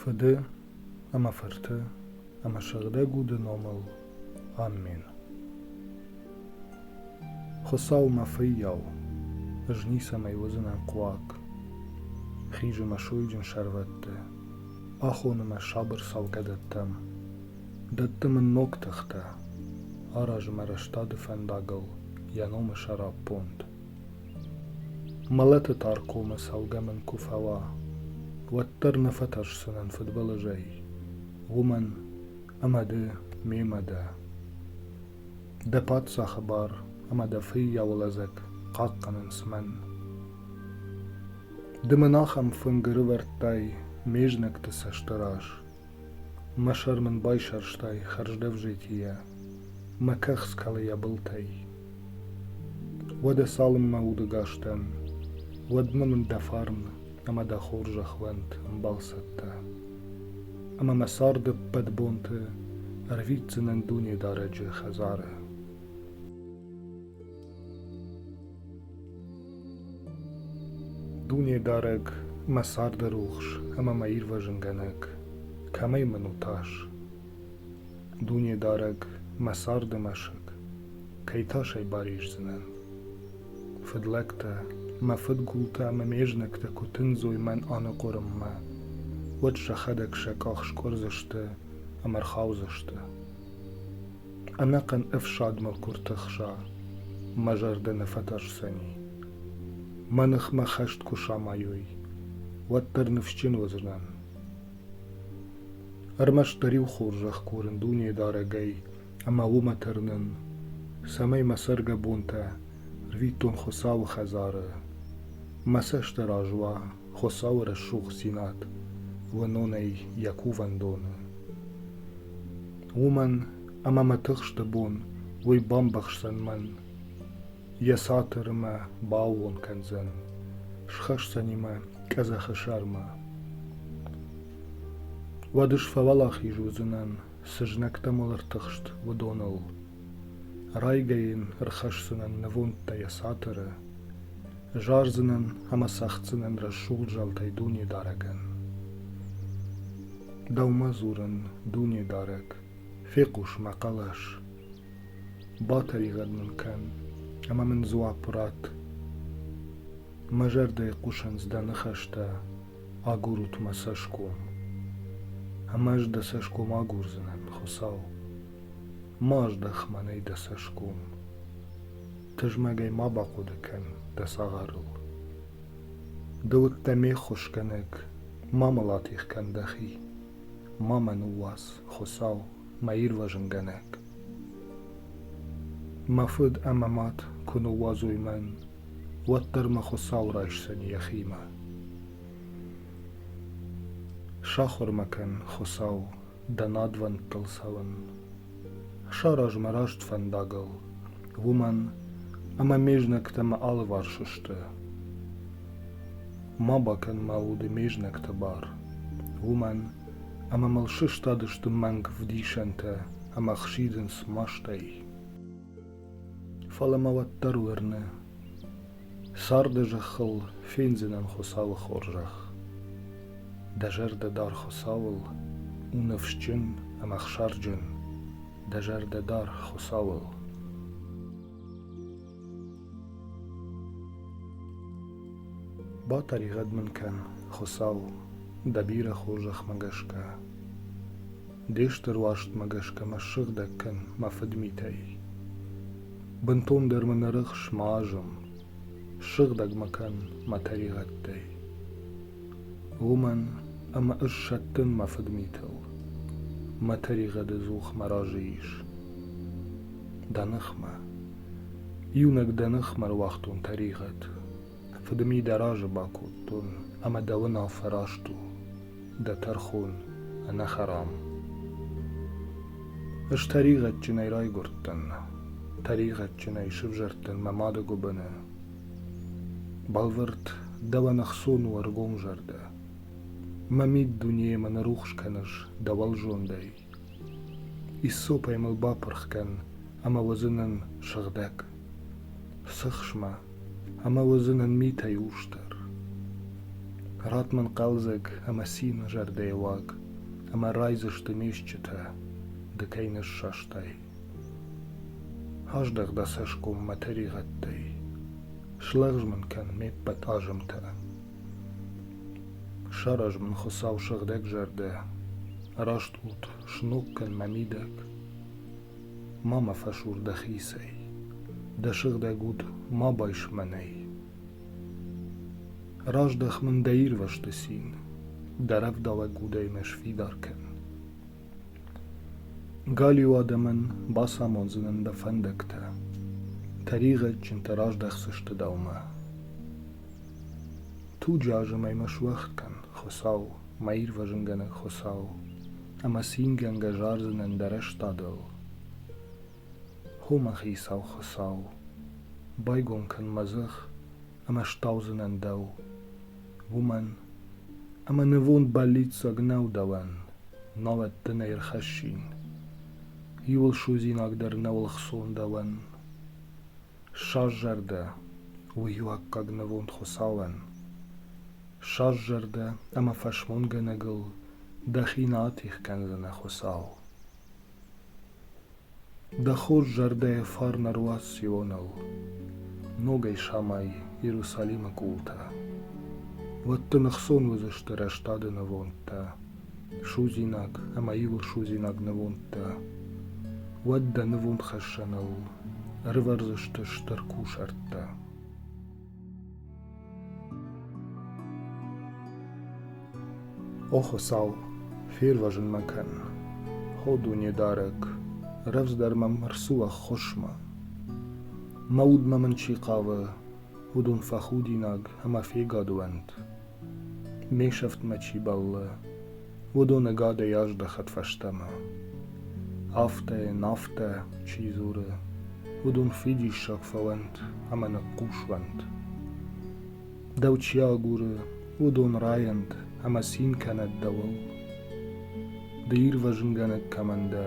Фыды ӕмӕ фырты ӕмӕ сыгъдӕг уды номыл Амин. Хуыцау мӕ фыййау, ӕз ницӕмӕй уыдзынӕн хъуаг. Хизы мӕ сойджын сӕрвӕтты, Ахоны мӕ сабыр цӕлгӕдӕттӕм, Дӕтты мын ног тыхтӕ, Аразы мӕ рӕстады фӕндагыл Йӕ номы сӕраппонд. Мӕлӕты тар комы цӕлгӕ мын куы фӕуа, Уӕддӕр нӕ фӕтӕрсдзынӕн фыдбылызӕй, Уымӕн, ӕмӕ ды мемӕ дӕ. Дӕ паддзахы бар ӕмӕ дӕ фыййауы лӕдзӕг Хъахъхъӕнынц мӕн. Ды мын ахӕм фынг ӕрывӕрдтай ме знӕгты цӕсты раз, Мӕ сӕр мын байсӕрстай хӕрздӕвзитийӕ, Мӕ кӕхц кӕлы йӕ былтӕй. Уӕдӕ цалынмӕ удыгас дӕн, уӕдмӕ мын дӕ фарн ӕмӕ дӕ хорзӕх уӕнт ӕмбал цӕттӕ, Ӕмӕ мӕ царды ӕппӕт бонты ӕрвитдзынӕн Дунедарӕджы хӕдзары. Дунедарӕг, мӕ царды рухс ӕмӕ мӕ ирвӕзынгӕнӕг, кӕмӕй мын у тас? Дунедарӕг, мӕ царды мӕсыг, кӕй тасӕй барисдзынӕн? Фыдлӕгтӕ, мӕ фыдгултӕ ӕмӕ ме знӕгтӕ куы тындзой мӕн аныхъуырынмӕ, уӕд сӕхӕдӕг сӕ къах скъуырдзысты ӕмӕ рхаудзысты. Ӕнӕхъӕн ӕфсадмӕ куы ртӕхса, мӕ зӕрдӕ нӕ фӕтӕрсдзӕни. Мӕ ныхмӕ хӕст куы самайой, уӕддӕр ныфсджын уыдзынӕн. Ӕрмӕстдӕр-иу хорзӕх курын дунедарӕгӕй ӕмӕ уымӕ тӕрнын, цӕмӕй мӕ цӕргӕбонтӕ рвитон Хуыцауы хӕдзары, мӕ цӕст раз уа Хуыцауы рӕсугъддзинад уынонӕй йӕ кувӕндоны. Уымӕн ӕмӕ мӕ тыхсты бон уый бамбӕхсдзӕн мӕн, йӕ цатыры мӕ бааууон кӕндзӕн, схӕсдзӕни мӕ къӕдзӕхы сӕрмӕ. Уӕд ысфӕуӕлахиз уыдзынӕн сызнӕгтӕ мӕлӕртыхст уыдоныл. Райгӕ йын ӕрхӕсдзынӕн нывондтӕ йӕ цатыры, Зардзынӕн ӕмӕ цӕгъддзынӕн рӕсугъд зӕлтӕй Дунедарӕгӕн. Дӕумӕ дзурын, Дунедарӕг, фехъус мӕ хъӕлӕс. Батӕригъӕд мын кӕн, ӕмӕ мын дзуапп ратт. Мӕ зӕрдӕйы хъусынц дӕ ныхӕстӕ, агурут мӕ цӕсгом. Ӕмӕ ӕз дӕ цӕсгом агурдзынӕн, Хуыцау. Ма аздӕх мӕнӕй дӕ цӕсгом. Тызмӕгӕй ма бахъуыды кӕн дӕ цагъарыл. Ды уыдтӕ ме ххуысгӕнӕг, ма мыл атигъ кӕн дӕхи, ма мӕ ныууадз, Хуыцау, мӕ ирвӕзынгӕнӕг. Мӕ фыд ӕмӕ мад куы ныууадзой мӕн, уӕддӕр мӕ Хуыцау райсдзӕни йӕхимӕ. Сахуыр мӕ кӕн, Хуыцау, дӕ надвӕндтыл цӕуын. Сараз мӕ раст фӕндагыл, уымӕн ӕмӕ ме знӕгтӕ мӕ алыварс сты. Ма бакӕн мӕ уды ме знӕгты бар, уымӕн ӕмӕ мыл сыстадысты мӕнг вдисӕнтӕ ӕмӕ хсидынц мастӕй. Фӕлӕ мӕ уӕддӕр уырны, царды зӕххыл фендзынӕн Хуыцауы хорзӕх. Дӕ зӕрдӕ дар Хуыцауыл, у ныфсджын ӕмӕ ӕхсарджын, дӕ зӕрдӕ дар Хуыцауыл. Батӕригъӕд мын кӕн, Хуыцау, дӕ бирӕ хорзӕхмӕ гӕсгӕ. Де стыр уарзтмӕ гӕсгӕ мӕ ссыгъдӕг кӕн, мӕ фыдмитӕй. Бынтондӕр мын ӕрыхс, ма азым, Ссыгъдӕг мӕ кӕн мӕ тӕригъӕдтӕй. Уымӕн ӕмӕ ӕз сӕттын мӕ фыдмитыл, Мӕ тӕригъӕды дзух мӕ разы ис. Дӕ ныхмӕ, иунӕг дӕ ныхмӕ руагътон тӕригъӕд, Фыдми дӕ разы бакодтон, ӕмӕ дӕ уынаффӕ раст у. дӕ тӕрхон, ӕнӕхӕрам. Ӕз тӕригъӕдджынӕй райгуырдтӕн, тӕригъӕдджынӕй сывзӕрдтӕн мӕ мады гуыбыны. Бӕлвырд, дӕуӕн ӕхцон у ӕргомзӕрдӕ. Мӕ мид дунейӕмӕ ныррухс кӕныс дӕ уӕлзондӕй, Иссопӕй мыл бапырх кӕн ӕмӕ уыдзынӕн сыгъдӕг, сыхсмӕ, ӕмӕ уыдзынӕн митӕй усдӕр. Ратт мын хъӕлдзӕг ӕмӕ цины зӕрдӕйы уаг, ӕмӕ райдзысты ме стджытӕ ды кӕй ныссастай. Аздӕх дӕ цӕсгом мӕ тӕригъӕдтӕй, слӕгъз мын кӕн ме ппӕт азымтӕ. Сараз мын Хуыцау сыгъдӕг зӕрдӕ, Раст ут, сног кӕн мӕ мидӕг, Ма мӕ фӕсур дӕхицӕй, Дӕ сыгъдӕг уд ма байс мӕнӕй. Раздӕх мын дӕ ирвӕзты цин, Дӕ рӕвдауӕг удӕй мӕ сфидар кӕн. Галиу адӕмӕн бацамондзынӕн дӕ фӕндӕгтӕ, Тӕригъӕдджынтӕ раздӕхдзысты дӕумӕ. Туджы азымӕй ма суӕгъд кӕн, Хуыцау, мӕ ирвӕзынгӕнӕг Хуыцау, ӕмӕ цингӕнгӕ зардзынӕн дӕ рӕстадыл. Хо мӕ хицау Хуыцау, байгом кӕн мӕ дзых, ӕмӕ стаудзынӕн дӕу, уымӕн, ӕмӕ нывонд бӕллиццаг нӕу дӕуӕн, науӕд дын ӕй ӕрхӕссин. Иуыл судзинаг дӕр нӕ ӕлхсон дӕуӕн. Ссӕрзӕрдӕ у иу аккаг нывонд Хуыцауӕн. Ссӕрзӕрдӕ ӕмӕ фӕсмонгӕнӕгыл дӕхи нал тих кӕндзынӕ Хуыцау. Дӕ хорз зӕрдӕйы фарн ӕруадз Сионыл, ногӕй самай Иерусалимы къултӕ. Уӕд дын ӕхцон уыдзысты рӕстады нывондтӕ. судзинаг ӕма иурсудзинаг нивондтӕ. Уӕд дӕ нивондхӕссӕныл ӕрывӕрдзысты стыр кусӕрттӕ. О Хуцау, фервӕзун мӕ кӕн, хо дунедарӕг, рӕвдздӕр мӕм ӕрцу ӕххуысмӕ. Мӕ удмӕ мын чи хъавы, уыдон фӕхудинаг ӕмӕ фегадуӕнт. ме сӕфтмӕ чи бӕллы, уыдон ӕгадӕй аздӕхӕд фӕстӕмӕ. Афтӕ, нафтӕ чи дзуры, уыдон фидиссаг фӕуӕнт ӕмӕ ныхъхъус уӕнт. Дӕу чи агуры, уыдон райӕнт ӕмӕ цин кӕнӕд дӕуыл. Ды ирвӕзынгӕнӕг кӕмӕн дӕ,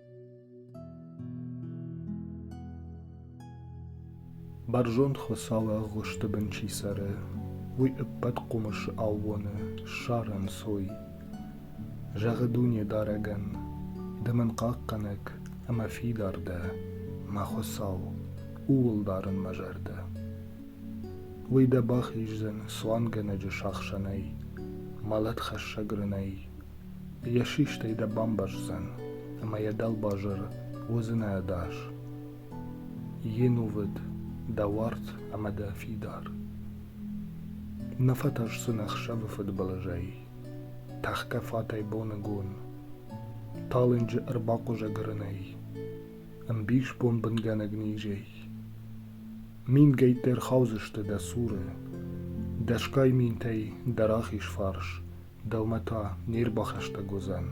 Бӕрзонд хуыцауы ӕгъуысты бын чи цӕры, уый ӕппӕт хъуымысы аууоны ссарӕнцой. Зӕгъы Дунедарӕгӕн: Ды мын хъахъхъӕнӕг ӕмӕ фидар дӕ, мӕ Хуыцау, ууыл дарын мӕ зӕрдӕ. Уый дӕ бахиздзӕн цуангӕнӕджы сахсӕнӕй, мӕлӕтхӕссӕг рынӕй, Йӕ систӕй дӕ бамбӕрздзӕн, ӕмӕ йӕ дӕлбазыры уыдзынӕ ӕдас. Йенувыд дӕ уарт ӕмӕ дӕ фидар. Нӕ фӕтӕрсдзӕн ӕхсӕвы фыдбылызӕй, тӕхгӕ фатӕй боныгон, талынджы ӕрбахъуызӕг рынӕй, ӕмбис бонбынгӕнӕг низӕй. Мингӕйттӕ ӕрхаудзысты дӕ цуры, дӕсгай минтӕй дӕ рахиз фарс Дӕумӕ та не рбахӕстӕг уыдзӕн.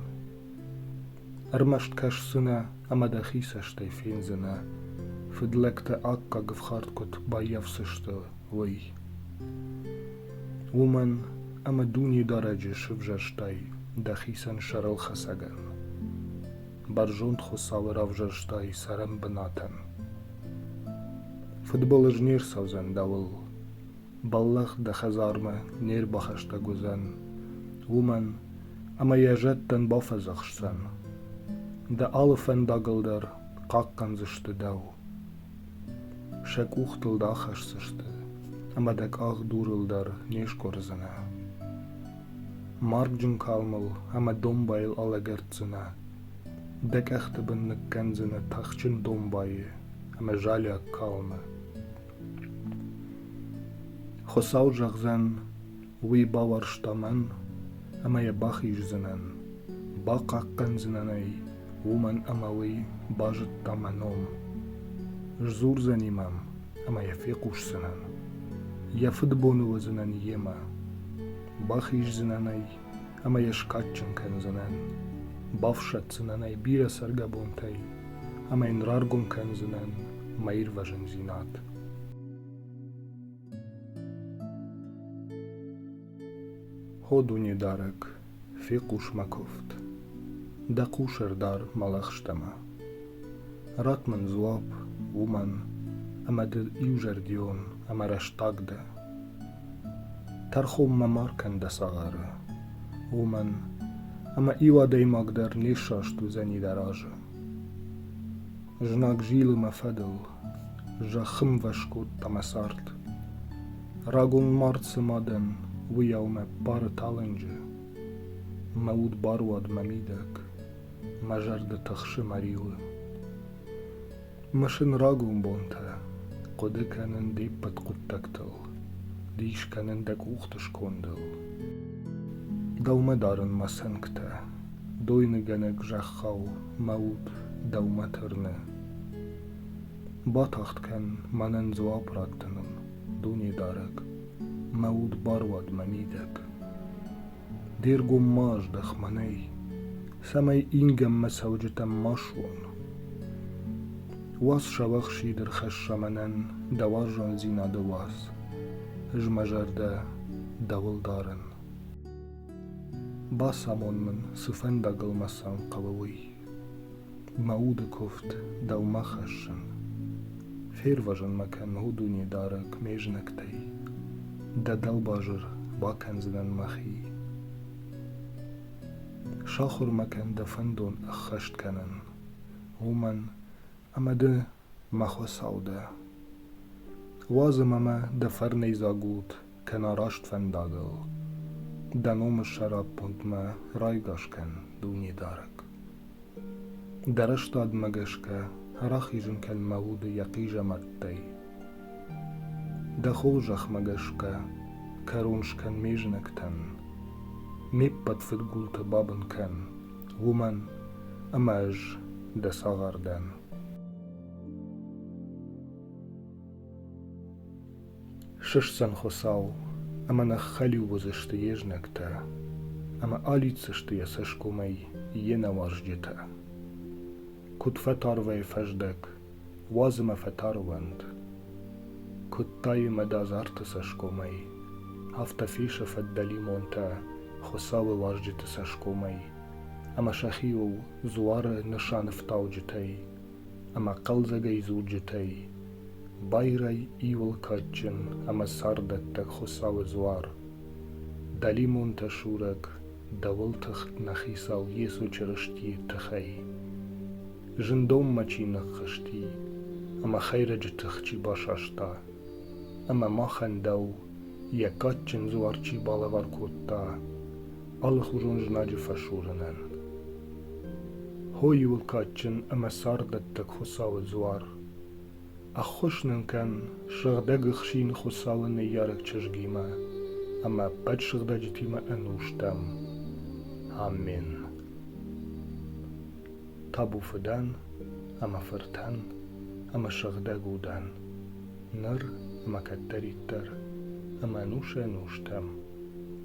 Ӕрмӕст кӕсдзынӕ ӕмӕ дӕхи цӕстӕй фендзынӕ, фыдлӕгты аккаг ӕфхӕрд куыд баййафдзысты, уый. Уымӕн ӕмӕ Дунедарӕджы сывзӕрстай дӕхицӕн сӕрылхӕцӕгӕн. Бӕрзонд Хуыцауы равзӕрстай цӕрӕн бынатӕн. Фыдбылыз не рцӕудзӕн дӕуыл, бӕллӕх дӕ хӕдзармӕ не рбахӕстӕг уыдзӕн, уымӕн ӕмӕ йӕ зӕдтӕн бафӕдзӕхсдзӕн. Дӕ алы фӕндагыл дӕр хъахъхъӕндзысты дӕу. Сӕ къухтыл дӕ ахӕсдзысты, ӕмӕ дӕ къах дурыл дӕр не скъуырдзынӕ. Маргджын калмыл ӕмӕ домбайыл алӕгӕрддзынӕ. Дӕ къӕхты бын ныккӕндзынӕ тахджын домбайы ӕмӕ залиаг калмы. Хуыцау зӕгъдзӕн, уый бауарзта мӕн ӕмӕ йӕ бахиздзынӕн, бахъахъхъӕндзынӕн ӕй, уымӕн ӕмӕ уый базыдта мӕ ном. Сдзурдзӕни мӕм ӕмӕ йӕ фехъусдзынӕн. Йӕ фыдбоны уыдзынӕн йемӕ, бахиздзынӕн ӕй ӕмӕ йӕ скадджын кӕндзынӕн, бафсӕддзынӕн ӕй бирӕ цӕргӕбонтӕй ӕмӕ йын раргом кӕндзынӕн мӕ ирвӕзындзинад. Хо Дунедарӕг, фехъус мӕ куывд, дӕ хъусӕрдар мӕлӕхстӕмӕ. Ратт мын дзуапп уымӕн, ӕмӕ ды иузӕрдион ӕмӕ рӕстаг дӕ. Тӕрхонмӕ ма ркӕн дӕ цагъары, уымӕн ӕмӕ иу адӕймаг дӕр не ссӕст уыдзӕни дӕ разы. Знаг зилы мӕ фӕдыл, зӕххымвӕз кодта мӕ цард. Рагон мард цы ма дӕн, уыйау мӕ бары талынджы. Мӕ уд баруад мӕ мидӕг, мӕ зӕрдӕ тыхсы мӕ риуы. Мысын рагон бонтӕ, хъуыды кӕнын де ппӕт хъуыддӕгтыл, дис кӕнын дӕ къухты скондыл. Дӕумӕ дарын мӕ цӕнгтӕ, дойныгӕнӕг зӕххау мӕ уд дӕумӕ тырны. Батагъд кӕн мӕнӕн дзуапп раттыныл, Дунедарӕг, мӕ уд баруад мӕ мидӕг. Де ргом ма аздӕх мӕнӕй, цӕмӕй ингӕнмӕ цӕуджытӕм ма суон. Уац сӕвӕхсид ӕрхӕсса мӕнӕн дӕ уарзондзинады уац, ӕз мӕ зӕрдӕ дӕуыл дарын. Бацамон мын, цы фӕндагыл мӕ сӕн хъӕуы, уый. Мӕ уды куывд дӕумӕ хӕссын, Фервӕзын мӕ кӕн, о Дунедарӕг, ме знӕгтӕй, Дӕ дӕлбазыр бакӕндзынӕн мӕхи. Сахуыр мӕ кӕн дӕ фӕндон ӕххӕст кӕнын, уымӕн ӕмӕ ды мӕ Хуыцау дӕ. Уадз ӕмӕ мӕ дӕ фӕрнӕйдзаг ут, кӕна раст фӕндагыл, дӕ номы сӕраппондмӕ райгас кӕн, Дунедарӕг. Дӕ рӕстадмӕ гӕсгӕ рахизын кӕн мӕ уды йӕ хъизӕмӕрттӕй. Дӕ хорзӕхмӕ гӕсгӕ кӕрон скӕн ме знӕгтӕн, ме ппӕт фыдгулты бабын кӕн, уымӕн ӕмӕ ӕз дӕ цагъар дӕн. Сысдзӕн Хуыцау, ӕмӕ нӕ хӕлиу уыдзысты йе знӕгтӕ, ӕмӕ алидздзысты йӕ цӕсгомӕй йе нӕуарзджытӕ. Куыд фӕтарвай фӕздӕг, уадз ӕмӕ фӕтарвӕнт. Куыд тайы мӕдазарты цӕсгомӕй, афтӕ фисы фӕддӕлимонтӕ Хуыцауы уарзджыты цӕсгомӕй, ӕмӕ сӕхиуыл дзуары нысанӕфтауджытӕй ӕмӕ хъӕлдзӕгӕй дзурджытӕй байрай иуыл кадджын ӕмӕ царддӕттӕг Хуыцауы дзуар, дӕлимонтӕ сурӕг дӕуыл тыхт нӕ Хицау Йесо Чырыстийы тыхӕй. Зындонмӕ чи ныххызти ӕмӕ хӕйрӕджы тых чи басаста, ӕмӕ махӕн дӕу йӕ кадджын дзуар чи балӕвар кодта, алыхуызон знаджы фӕсурынӕн. Хой у кадджын ӕмӕ царддӕттӕг Хуыцауы дзуар. Ӕххуыс нын кӕн Сыгъдӕг Ӕхсин Хуыцауы ныййарӕг чызгимӕ ӕмӕ ӕппӕт сыгъдӕджытимӕ ӕнустӕм. Амен. Табу фыдӕн ӕмӕ фыртӕн ӕмӕ сыгъдӕг удӕн, ныр ӕмӕ кӕддӕриддӕр ӕмӕ ӕнусӕй ӕнустӕм.